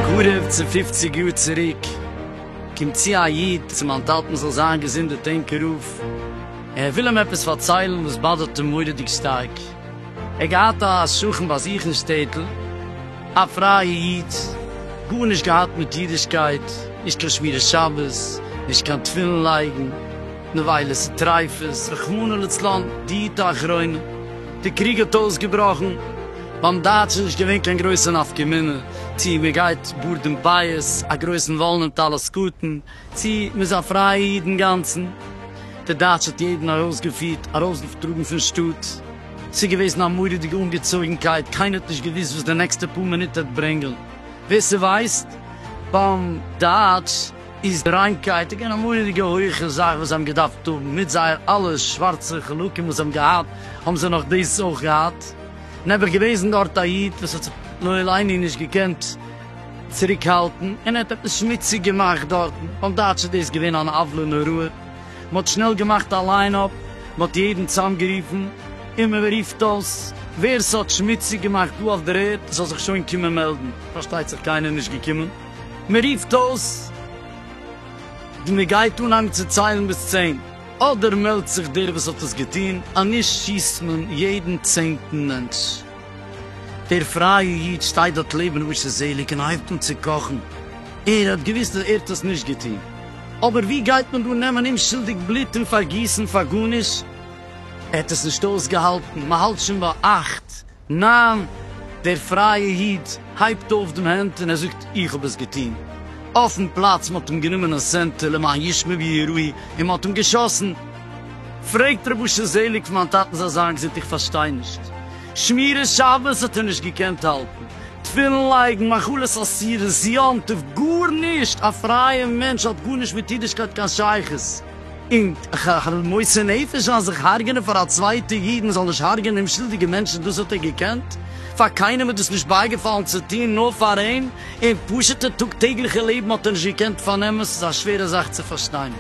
קרוב צו פופציג יאר צוריק קומט צו א איד צו מיין טאטן זאל זיין געזונט די טענקער אויף, ער וויל אים עפעס פארציילן וואס באדערט אים מורא'דיג שטארק, ער געהאט א שכן באזוכן אין שטעטל, א פרייע איד, גארנישט געהאט מיט אידישקייט, נישט קיין שמירת שבת, נישט קיין תפילין לייגן, נבילות און טריפות, רחמנא לצלן, די עת האחרונה, די קריג האט אויסגעבראכן, ביים דייטשן נישט געווען קיין גרויסע נפקא מינה צי מען גייט בארד און פאות, א גרויסן וואלן און טלית קטן, צי מען זאל פרייען אידן גאנצן, דער דייטש האט יעדן ארויסגעפירט, ארויסגעטראגן פון שטאט, ס'איז געוועזן א מורא'דיגע אנגעצויגנקייט, קיינער האט נישט געוואוסט וואס די נעקסטע פאר מינוט העט ברענגען, ווער ס'ווייסט, ביים דייטש איז די ריינקייט געווען א מורא'דיגע הויעכע זאך וואס זיי האבן געדארפט האבן, מיט זייער אלע שווארצע חלקים וואס זיי האבן געהאט, האבן זיי נאך דאס אויך געהאט, נעבעך געוועזן דארט א איד וואס האט זיך לעילאיני נישט געקענט, צוריקהאלטן און ער האט עפעס שמוציג געמאכט דארטן, אויף דייטש איז דאס געווען אן עוולה נוראה, מען האט שנעל געמאכט א ליין אפ, מען האט יעדן צאמגערופן און מען רופט אויס ווער ס'האט שמוציג געמאכט דא אויף דער ערד זאל זיך שוין קומען מעלדן, פארשטייט זיך קיינער נישט געקומען, מען רופט אויס די מען גייט אנהייבן צו ציילן ביז צען, אדער מעלדט זיך דער וואס האט עס געטון, אז נישט שיסט מען יעדן צענטן מענטש. דער פרייע איד שטייט דארט לעבן ר' משה זעליג און הייבט אן צו קאכן, ער האט געוואוסט אז ער האט עס נישט געטון, אבער ווי גייט מען דא נעמען אומשולדיג בלוט און פארגיסן פאר גארנישט, ער האט עס נישט אויסגעהאלטן, מען האלט שוין ביי אכט, ניין, דער פרייע איד הייבט אויף דעם הענט און ער זאגט איך האב עס געטון, אויפן פלאץ, מען האט אים גענומען א סענטער למען ישמע ויראי און מען האט אים געשאסן. פרעגט ר' אשר זעליג פון מיין טאטן זאל זיין געזונט איך פארשטיי נישט, שמירת שבת האט ער נישט געקענט האלטן, תפילין לייגן, מאכלות אסירות, יום טוב, גארנישט, א פרייע מענטש האט גארנישט מיט אידישקייט קיין שייכות, און ככ ר מוסר נפש אז זיך הרג'נען פאר א צווייטע איד מען זאל נישט הרג'נען אומשולדיגע מענטשן דאס האט ער געקענט, פאר קיינעם איז דאס נישט בייגעפאלן צו טון נאר פאר אים, און פשוטע טאג טעגליכע לעבן האט ער נישט געקענט פארנעמען, ס'איז א שווערע זאך צו פארשטיין.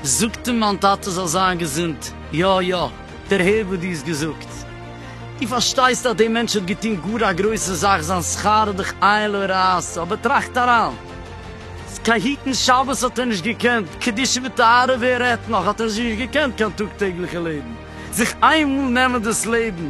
זאגט אים מיין טאטע זאל זיין געזונט, יא יא, דערהער וואס דו האסט געזאגט, דו פארשטייסט אז דער מענטש האט געטון גאר א גרויסע זאך, זיין שכר איז דאך עין לא ראתה, אבער טראכט אריין, קיין היטן שבת האט ער נישט געקענט, קדושה וטהרה ווער רעדט נאך, האט ער זיך נישט געקענט קיין טאג טעגליכע לעבן, זיך איין מאל נעמען דאס לעבן,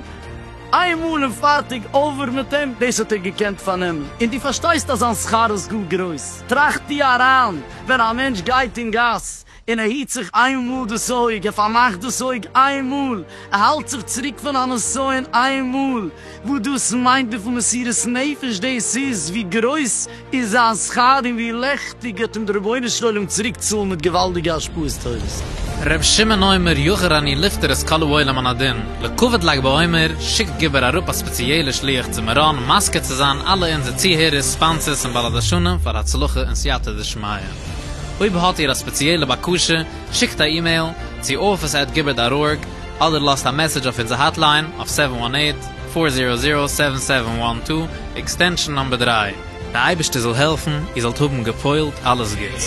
איין מאל און פארטיג, אווער מיט אים, דאס האט ער געקענט פארנעמען, און דו פארשטייסט אז זיין שכר איז גאר גרויס, טראכט דו אריין. ווען א מענטש גייט אין גאס און ער היט זיך איין מאל דאס אויג, ער פארמאכט דאס אויג איין מאל, ער האלט זיך צוריק פון א נסיון איין מאל, וואס דאס מיינט וויפיל מסירות נפש דאס איז, ווי גרויס איז זיין שכר און ווי לעכטיג וועט אים דער רבונו של עולם צוריק צאלן מיט געוואלדיגע השפעות טובות. ר' שמעון אומר יחר אני לפטר את כלו עולם אנא דין. לכּבֿוד לג בעומר שיקט גבֿר אַראָפּ אַ ספּעציעלער שליח צו מירון מזכּה צו זײַן אַלע אונדזער צוהערערס, ספּאָנסערס און בעלי-דרשנים פֿאַר הצלחה און סײַתּא דשמיא. אויב האָט איר אַ ספּעציעלע בקשה, שיקט אַ אימעיל צו office עט גבֿר דאָט אָרג אָדער לאָזט אַ מעסעדזש אויף אונדזער האָטלײַן אויף סעווען וואַן עיט, פֿאָר זירא זירא, סעווען סעווען וואַן טו, עקסטענשאָן נומבער דרײַ. דער אייבערשטער זאל העלפן איר זאלט האבן געפועלט אלעס גוטס.